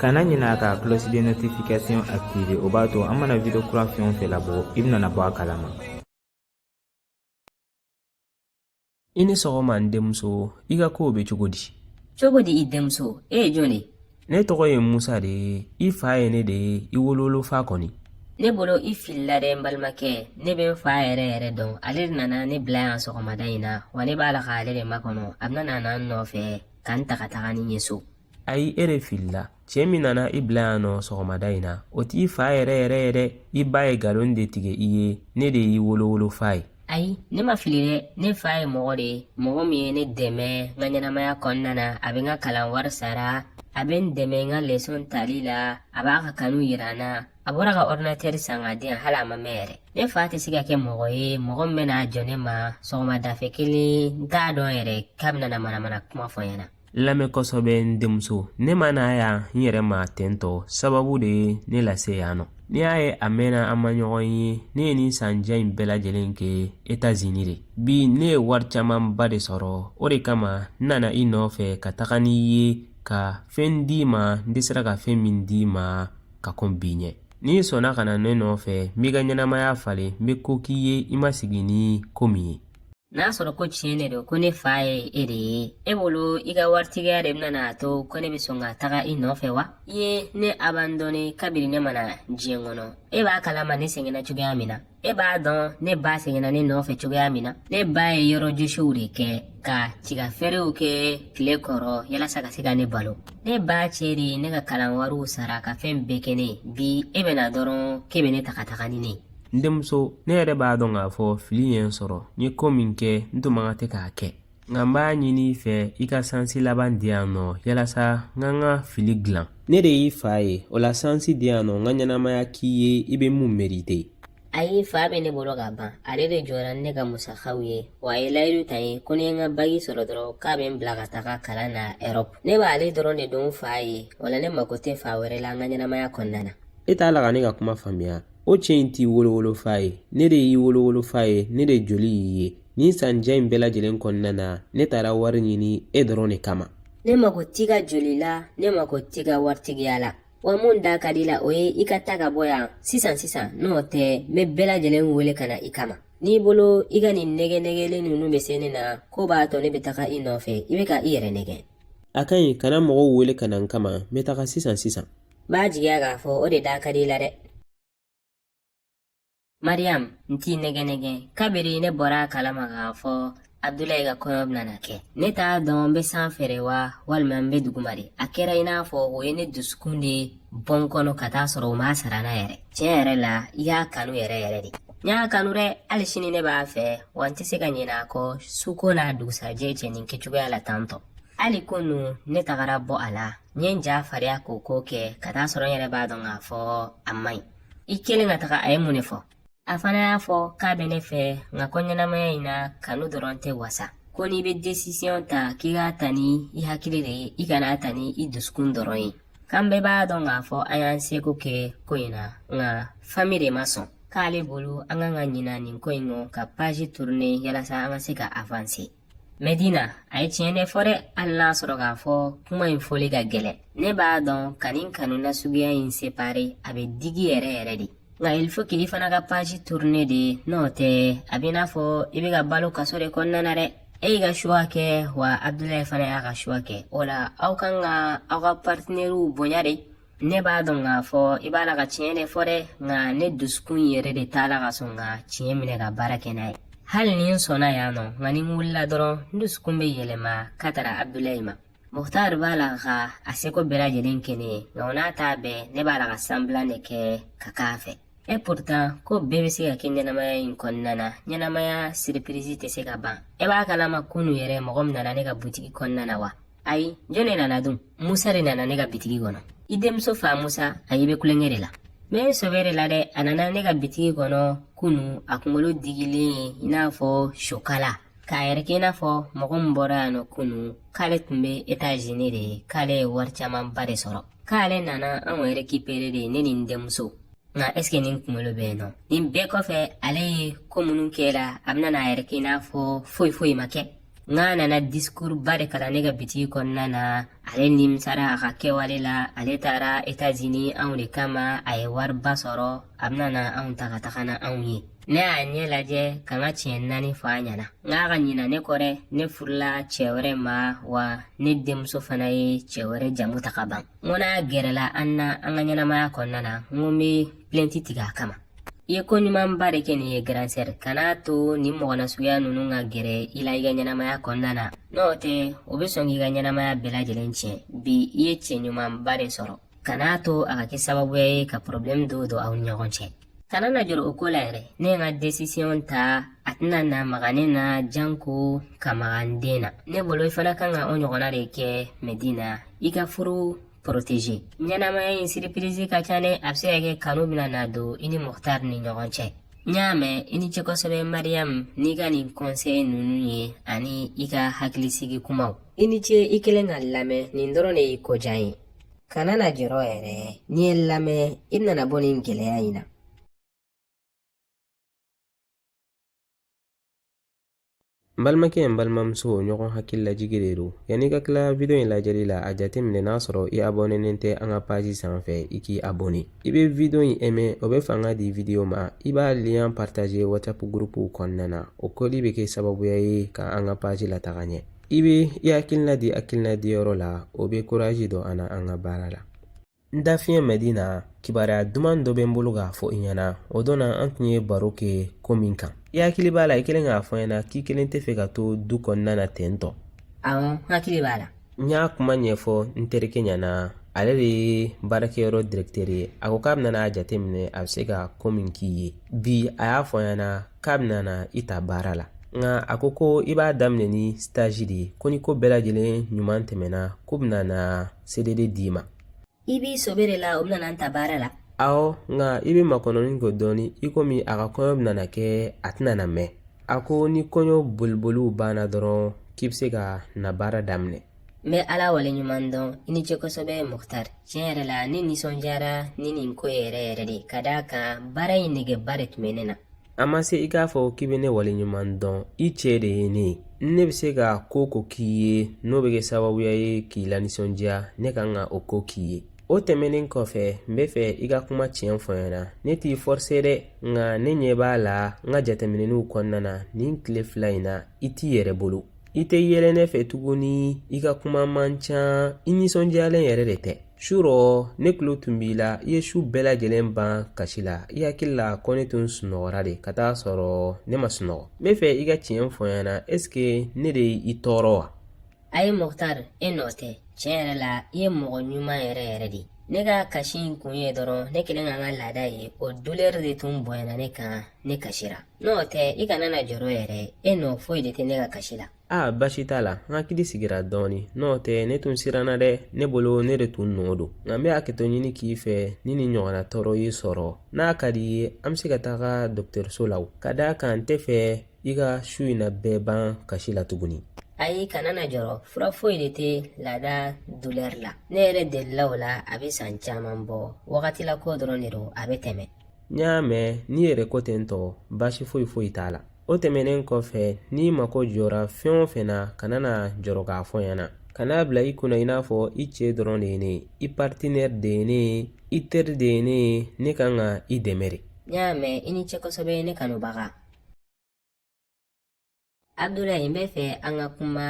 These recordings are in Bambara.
kana ɲinɛ ka cloche de notification activer o b'a to an mana video kura fɛn o fɛn labɔ i bɛna bɔ a kalama i ni sɔgɔma n denmuso i ka kow bɛ cogo di cogo di i denmuso e ye jɔn ye ne tɔgɔ ye musa de ye i fa ye ne de ye i wolowolo fa kɔni ne bolo i filila dɛ n balimakɛ ne bɛ n fa yɛrɛ yɛrɛ dɔn ale de nana ne bila yan sɔgɔmada in na wa ne b'a la k'ale de makɔnɔ a bɛna na n nɔfɛ ka n ta ka taga ni n ye so ayi e de filila cɛ min nana i bila yan nɔ sɔgɔmada in na o t'i fa yɛrɛ yɛrɛ ye dɛ i ba ye galon de tigɛ i ye ne de y'i wolowolo fa ye ayi ne ma fili dɛ ne fa ye mɔgɔ de ye mɔgɔ min ye ne dɛmɛ n ka ɲɛnamaya kɔnɔna na a bɛ n ka kalan wari sara a bɛ n dɛmɛ n ka lesɔn tali la a b'a ka kanu yira n na a bɔra ka ɔridinatɛri san k'a di yan hali a ma mɛn yɛrɛ ne fa tɛ se ka kɛ mɔgɔ ye mɔgɔ min bɛna jɔ ne ma sɔgɔmadafɛ kelen n t'a dɔn yɛrɛ k'a bɛna na manamana kuma fɔ n ɲɛna n lamɛn kosɛbɛ n denmuso ne ma na yan n yɛrɛ ma ten tɔ sababu de ye ne lase yan nɔ n'i y'a ye a mɛnna an ma ɲɔgɔn ye ne ye nin san jan in bɛɛ lajɛlen kɛ etazini de bi ne ye wari camanba de sɔrɔ o de kama n nana i nɔfɛ ka taga n'i ye ka fɛn d'i ma n dɛsɛra ka fɛn min d'i ma ka kɔn bi ɲɛ n'i sɔnna ka na ne nɔfɛ n b'i ka ɲɛnamaya falen n bɛ ko k'i ye i ma sigi ni ko min ye n'a sɔrɔ ko tiɲɛ de don ko ne fa ye e de ye e bolo i ka waritigiya de bɛna n'a to ko ne bɛ sɔn ka taga i nɔfɛ wa i ye ne abandɔnne kabiri ne ma na diɲɛ kɔnɔ e b'a kalama ne sɛgɛnna cogoya min na e b'a dɔn ne ba sɛgɛnna ne nɔfɛ cogoya min na ne ba ye yɔrɔ josiw de kɛ ka tiga feerew kɛ tile kɔrɔ yalasa ka se ka ne balo ne ba cɛ de ye ne ka kalan wariw sara ka fɛn bɛɛ kɛ n ye bi e bɛ na dɔrɔn k'e bɛ ne ta ka taga ni ne ye n denmuso ne yɛrɛ b'a dɔn k'a fɔ fili ye n sɔrɔ n ye ko min kɛ n tun man kan tɛ k'a kɛ nka n b'a ɲini i fɛ i ka sansi laban di yan nɔ yalasa n ka n ka fili dilan ne de y'i fa ye o la sansi di yan nɔ n ka ɲɛnamaya k'i ye i bɛ mun merite ayi fa bɛ ne bolo ka ban ale de jɔra ni n ka musakaw ye wa a ye layidu ta n ye ko ni n ye n ka baki sɔrɔ dɔrɔn k'a bɛ n bila ka taga kalan na ɛrɔpu ne b'ale dɔrɔn de dɔn fa ye o la ne mako tɛ fa wɛrɛ la n ka ɲɛnamaya kɔnɔna na e t'a la ka ne ka kuma faamuya o cɛ in t'i wolowolofa ye ne de y'i wolowolofa ye ne de joli y'i ye nin san jan in bɛɛ lajɛlen kɔnɔna na ne taara wari ɲini e dɔrɔn de kama ne mago t'i ka joli la ne mago t'i ka waritigiya la wa mun da ka di i la o ye i ka ta ka bɔ yan sisan sisan n'o tɛ n bɛ bɛɛ lajɛlen wele ka na i kama n'i bolo i ka nin nɛgɛ nɛgɛlen ninnu bɛ se ne na k'o b'a to ne bɛ taga i nɔfɛ i bɛ ka i yɛrɛ nɛgɛ a ka ɲi kana mɔgɔw wele ka na n kama n bɛ taga sisan sisan B'a jigiya k'a fɔ o de da ka di i la dɛ. Mariam, n t'i nɛgɛn nɛgɛn. Kabiri ne bɔra a kalama k'a fɔ Abdulayi ka kɔɲɔ bɛna na kɛ. Ne t'a dɔn n bɛ sanfɛ de wa walima n bɛ duguma de. A kɛra i n'a fɔ o ye ne dusukun de bɔ n kɔnɔ ka taa sɔrɔ u m'a sara n na yɛrɛ. Tiɲɛ yɛrɛ la, i y'a kanu yɛrɛ yɛrɛ de. N y'a kanu dɛ, hali sini ne b'a fɛ, wa n tɛ se ka ɲinɛ a kɔ suko n'a dugusajɛ cɛ nin kɛcogoya la tantɔ. Hali kunu ne tagara bɔ a la n ye n ja fariya k'o ko kɛ ka taa sɔrɔ n yɛrɛ b'a dɔn k'a fɔ a man ɲi i kɛlen ka taga a ye mun de fɔ a fana y'a fɔ k'a bɛ ne fɛ nka ko ɲɛnamaya in na kanu dɔrɔn tɛ wasa ko n'i bɛ desisiyɔn ta k'i k'a ta ni i hakili de ye i kan'a ta ni i dusukun dɔrɔn ye k'an bɛɛ b'a dɔn k'a fɔ an y'an seko kɛ ko in na nka fami de ma sɔn k'ale bolo an kan ka ɲina nin ko in kɔ ka paji turune yalasa an ka se ka avanse Medina a ye tiɲɛ de fɔ dɛ hali n'a sɔrɔ k'a fɔ kuma in fɔli ka gɛlɛn ne b'a dɔn ka nin kanu nasuguya in separe a bɛ digi yɛrɛ yɛrɛ de nka il faut k'i fana ka page tourner de n'o tɛ a bɛ i n'a fɔ i bɛ ka balo kaso de kɔnɔna na dɛ e y'i ka choix kɛ wa Abdulayi fana y'a ka choix kɛ o la aw kan ka aw ka partenaires bonya de ne b'a dɔn k'a fɔ i b'a la ka tiɲɛ de fɔ dɛ nka ne dusukun yɛrɛ de t'a la ka sɔn ka tiɲɛ minɛ ka baara kɛ n'a ye hali ni n sɔnna yan nɔ nka ni n wulila dɔrɔn n dusukun bɛ yɛlɛma ka tara abudulayi ma muhtar b'a la ka a seko bɛɛ lajɛlen kɛ ne ye nka o n'a ta bɛɛ ne b'a la ka sanbilan de kɛ ka k'a fɛ e pourtant ko bɛɛ bɛ se ka kɛ ɲɛnamaya in kɔnɔna na ɲɛnamaya siripirizi tɛ se ka ban e b'a kalama kunu yɛrɛ mɔgɔ min nana ne ka butigi kɔnɔna na wa ayi jɔn de nana dun musa de nana ne ka bitigi kɔnɔ i denmuso fa musa ayi e bɛ tulonkɛ de la n bɛ sɔbɛ de la dɛ a nana ne ka bitigi kɔnɔ kunu a kunkolo digilen ye i n'a fɔ sokala k'a yɛrɛ kɛ i n'a fɔ mɔgɔ min bɔra yan nɔ kunu k'ale tun bɛ etazini de k'ale ye wari camanba de sɔrɔ k'ale nana anw rekipere de ne ni n denmuso nka ɛseke nin kunkolo bɛ yen nɔ nin bɛɛ kɔfɛ ale ye ko minnu kɛ i la a bɛna n'a yɛrɛ kɛ i n'a fɔ foyi foyi ma kɛ n k'a nana disikuruba de kalan ne ka bitigi kɔnɔna na ale nimisara a ka kɛwale la ale taara etazini anw de kama a ye wariba sɔrɔ a bɛna na anw ta ka taga n'anw ye ne y'a ɲɛ lajɛ ka n ka tiɲɛ naani fɔ a ɲɛna n k'a ka ɲina ne kɔ dɛ ne furula cɛ wɛrɛ ma wa ne denmuso fana ye cɛ wɛrɛ jamu ta ka ban n ko n'a gɛrɛla an na an ka ɲɛnamaya kɔnɔna na n ko n bɛ pilɛnti tigɛ a kama i ye ko ɲumanba de kɛ nin ye grande sœur kan'a to nin mɔgɔ nasuguya ninnu ka gɛrɛ i la i ka ɲɛnamaya kɔnɔna na n'o tɛ o bɛ sɔn k'i ka ɲɛnamaya bɛɛ lajɛlen tiɲɛ bi i ye cɛ ɲumanba de sɔrɔ kan'a to a ka kɛ sababuya ye ka porobilɛmu dɔw don aw ni ɲɔgɔn cɛ kana na jɔrɔ o ko la yɛrɛ ne ye n ka desisiyɔn ta a tɛna na maga ne na janko ka maga n den na ne bolo i fana kan ka o ɲɔgɔnna de kɛ madina i ka furu poroteje ɲɛnamaya in siripirizi ka ca dɛ a bɛ se ka kɛ kanu bɛna na don i ni muktar ni ɲɔgɔn cɛ n y'a mɛn i ni ce kosɛbɛ mariyamu n'i ka nin kɔnsɛyi ninnu ye ani i ka hakilisigi kumaw i ni ce i kelen ka lamɛnni dɔrɔn de ye ko jan ye kana na jɔrɔ yɛrɛ n'i ye lamɛn i nana bɔ nin gɛlɛya in na n balimakɛ n balimamuso ɲɔgɔn hakili lajigi de don yanni ka tila video in lajɛli la a jate minɛ n'a sɔrɔ i abɔnenen tɛ an ka paji sanfɛ i k'i abɔne i bɛ video in ɛmɛ o bɛ fanga di video ma i b'a liyan partaje whatsapp gurupuw kɔnɔna na o kɛli bɛ kɛ sababuya ye ka an ka paji lataga ɲɛ i bɛ i hakilina di hakilina di yɔrɔ la o bɛ koraji don an na an ka baara la n da fiɲɛ madina kibaruya duman dɔ bɛ n bolo k'a fɔ i ɲɛna o don na an tun ye baro kɛ ko min kan i hakili b'a la i kelen k'a fɔ n ɲɛna k'i kelen tɛ fɛ ka to du kɔnɔna na ten tɔ awɔ n hakili b'a la n y'a kuma ɲɛfɔ n terikɛ ɲɛna ale de ye baarakɛyɔrɔ dirɛkitɛri ye a ko k'a bɛna n'a jateminɛ a bɛ se ka ko min k'i ye bi a y'a fɔ n ɲɛna k'a bɛna na i ta baara la nka a ko ko i b'a daminɛ ni sitaji de ye ko ni ko bɛɛ lajɛlen ɲuman tɛmɛna ko bɛna na sedede d'i ma i b'i sɛbɛ de la o bɛna n ta baara la awɔ nka i bɛ makɔnɔni kɛ dɔɔni i komi a ka kɔɲɔ bɛna na kɛ a tɛna na mɛn a ko ni kɔɲɔ boliboliw banna dɔrɔn k'i bɛ se ka na baara daminɛ n bɛ ala waleɲuman dɔn i ni ce kosɛbɛ muktar tiɲɛ yɛrɛ la ne nisɔndiyara ni nin ko ye yɛrɛ yɛrɛ dɛ ka d'a kan baara in negeba de tun bɛ ne na a ma se i k'a fɔ k'i bɛ ne waleɲuman dɔn i cɛ de ye ne ye ne bɛ se ka ko o ko k'i ye n'o bɛ kɛ sababuya ye k'i lanisɔndiya ne kan ka o ko k'i ye o tɛmɛnen kɔfɛ n bɛ fɛ i ka kuma tiɲɛ fɔ n ɲɛna ne t'i forse dɛ nka ne ɲɛ b'a la n ka jateminɛw kɔnɔna na nin tile fila in na i t'i yɛrɛ bolo i tɛ yɛlɛ ne fɛ tuguni i ka kuma man ca i nisɔndiyalen yɛrɛ de tɛ su rɔ ne tulo tun b'i la i ye su bɛɛ lajɛlen ban kasi la i hakili la ko ne tun sunɔgɔra de ka taa sɔrɔ ne ma sunɔgɔ n bɛ fɛ i ka tiɲɛ fɔ n ɲɛna ɛseke ne de y'i tɔɔrɔ wa ayi muktar e nɔ tɛ tiɲɛ yɛrɛ la i ye mɔgɔ ɲuman yɛrɛ yɛrɛ de ne ka kasi in kun ye dɔrɔn ne kelen ka n ka laada ye o dulɛri de tun bonyana ne kan ne kasira n'o tɛ i kana na jɔrɔ yɛrɛ e nɔ foyi de tɛ ne ka kasi la a basi t'a la n hakili sigira dɔɔni n'o tɛ ne tun siranna dɛ ne bolo ne de tun nɔ don nka n bɛ hakɛto ɲini k'i fɛ ni nin ɲɔgɔnna tɔɔrɔ y'i sɔrɔ n'a ka d'i ye an bɛ se ka taga dɔgɔtɔrɔso la ka d'a kan n tɛ fɛ i ka su in na bɛɛ ban kasi la tuguni ayi kana na jɔrɔ fura foyi de tɛ laada dulɛri la ne yɛrɛ delila o la a bɛ san caman bɔ wagati la ko dɔrɔn de don a bɛ tɛmɛ n y'a mɛn n'i yɛrɛ ko ten tɔ baasi foyi foyi t'a la o tɛmɛnen kɔfɛ n'i mako jɔra fɛn o fɛn na kana na jɔrɔ k'a fɔ n ɲɛna kana a bila i kunna i n'a fɔ i cɛ dɔrɔn de ye ne ye i partenaire de ye ne ye i teri de ye ne ye ne kan ka i dɛmɛ dɛ n y'a mɛn i ni ce kosɛbɛ ne kanubaga Abudulayi n bɛ fɛ an ka kuma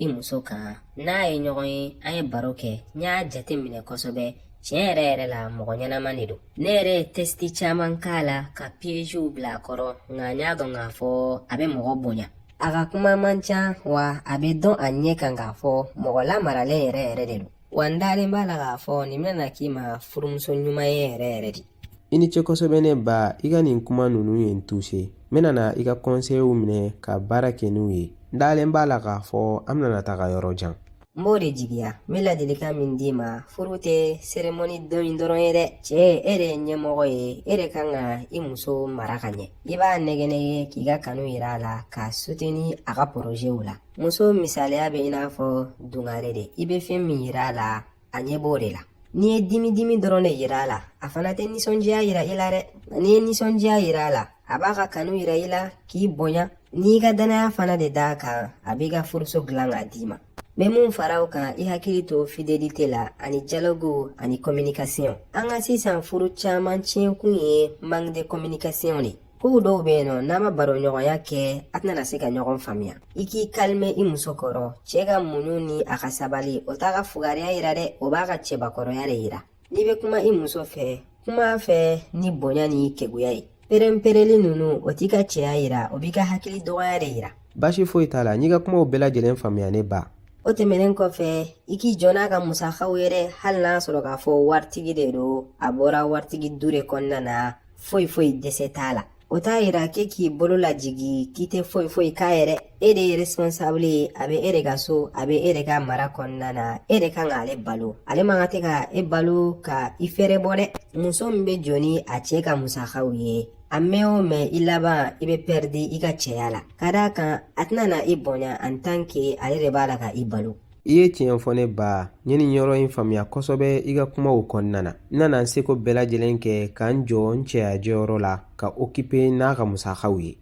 i muso kan n'a ye ɲɔgɔn ye an ye baro kɛ n y'a jate minɛ kosɛbɛ tiɲɛ yɛrɛ yɛrɛ la mɔgɔ ɲɛnama de don ne yɛrɛ ye tɛsiti caman k'a la ka piyeziw bila a kɔrɔ nka n y'a dɔn k'a fɔ a bɛ mɔgɔ bonya a ka kuma man ca wa a bɛ dɔn a ɲɛ kan k'a fɔ mɔgɔ lamaralen yɛrɛ yɛrɛ de don wa n dalen b'a la k'a fɔ nin bɛna na k'i ma furumuso ɲuman ye yɛrɛ yɛrɛ de I ni ce kosɛbɛ ne ba i ka nin kuma ninnu ye n tuse n bɛna na i ka kɔnseyiw minɛ ka baara kɛ n'u ye n dalen b'a la k'a fɔ an bɛna na taga yɔrɔ jan n b'o de jigiya n bɛ ladilikan min d'i ma furu tɛ seremoni don in dɔrɔn ye dɛ cɛɛ e de ye ɲɛmɔgɔ ye e de kan ka i muso mara ka ɲɛ i b'a nɛgɛnɛgɛ k'i ka kanu yira a la k'a suteni a ka porozɛw la muso misaliya bɛ i n'a fɔ dungare de i bɛ fɛn min yira a la a ɲɛ b'o de la n'i ye dimi dimi dɔrɔn de yira a la a fana tɛ nisɔndiya yira i la dɛ n'i ye nisɔndiya yira a la a b'a ka kanu yira i la k'i bonya n'i ka dannaya fana de d'a kan a b'i ka furuso dilan k'a d'i ma n bɛ mun fara o kan i hakili to fidélité la ani dialogue ani communication an ka sisan furu caman tiɲɛkun ye manque de communication de Kow dɔw bɛ yen nɔ n'a ma baroɲɔgɔnya kɛ a tɛna na se ka ɲɔgɔn faamuya i k'i kalime i muso kɔrɔ cɛ ka muɲu ni a ka sabali o t'a ka fugariya yira dɛ o b'a ka cɛbakɔrɔya de yira n'i bɛ kuma i muso fɛ kuma a fɛ ni bonya ni keguya ye perenpereli ninnu o t'i ka cɛya yira o b'i ka hakili dɔgɔya de yira baasi foyi t'a la n y'i ka kumaw bɛɛ lajɛlen faamuya ne ba o tɛmɛnen kɔfɛ i k'i jɔ n'a ka musakaw ye dɛ hali n'a sɔrɔ k'a fɔ waritigi de don a bɔra waritigi du de kɔnɔna na foyi foyi dɛsɛ t'a la o t'a yira k'e k'i bolo lajigi k'i tɛ foyi foyi k'a ye dɛ e de ye responsable ye a bɛ e de ka so a bɛ e de ka mara kɔnɔna na e de kan k'ale balo ale man kan tɛ ka e balo ka i fɛɛrɛbɔ dɛ muso min bɛ jɔ ni a cɛ ka musakaw ye a mɛɛn o mɛɛn i laban i bɛ pɛridi i ka cɛya la ka d'a kan a tɛna na i bonya en tant que ale de b'a la ka i balo i ye tiɲɛ fɔ ne ba n ye nin yɔrɔ in faamuya kosɛbɛ i ka kumaw kɔnɔna na n na na n seko bɛɛ lajɛlen kɛ ka n jɔ n cɛya jɔyɔrɔ la ka okipe n'a ka musakaw ye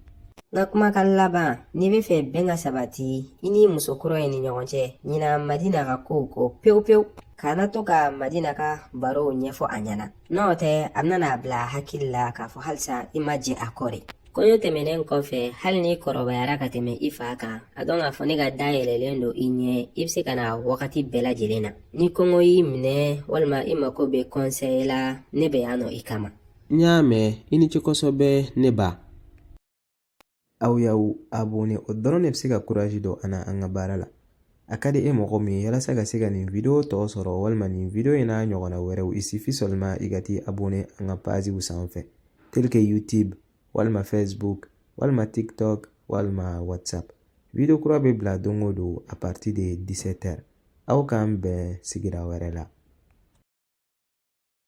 n ka kumakan laban n'i bɛ fɛ bɛn ka sabati i n'i muso kura in ni ɲɔgɔn cɛ ɲina Madina ka kow kɔ pewu pewu kana to ka Madina ka barow ɲɛfɔ a ɲɛna n'o tɛ a bɛna na a bila a hakili la k'a fɔ halisa i ma jɛ a kɔ dɛ Kɔɲɔ tɛmɛnen kɔfɛ hali n'i kɔrɔbayara ka tɛmɛ i fa kan a dɔn k'a fɔ ne ka da yɛlɛlen don i ɲɛ i bɛ se ka na wagati bɛɛ lajɛlen na ni kɔngɔ y'i minɛ walima i mako bɛ kɔnsɛyi la ne bɛ yan nɔ i kama n y'a mɛn i ni ce kosɛbɛ ne ba aw y'aw abonné o dɔrɔn de bɛ se ka kurazi don an na an ka baara la A ka di e mɔgɔ min ye yalasa ka se ka nin video tɔ sɔrɔ walima nin video in n'a ɲɔgɔnna wɛrɛw il suffit seulement i ka t'i abone an ka paziw sanfɛ tel que youtube walima facebook walima tiktok walima whatsapp video kura bɛ bila don o don a partir de 17 heures aw k'an bɛn sigira wɛrɛ la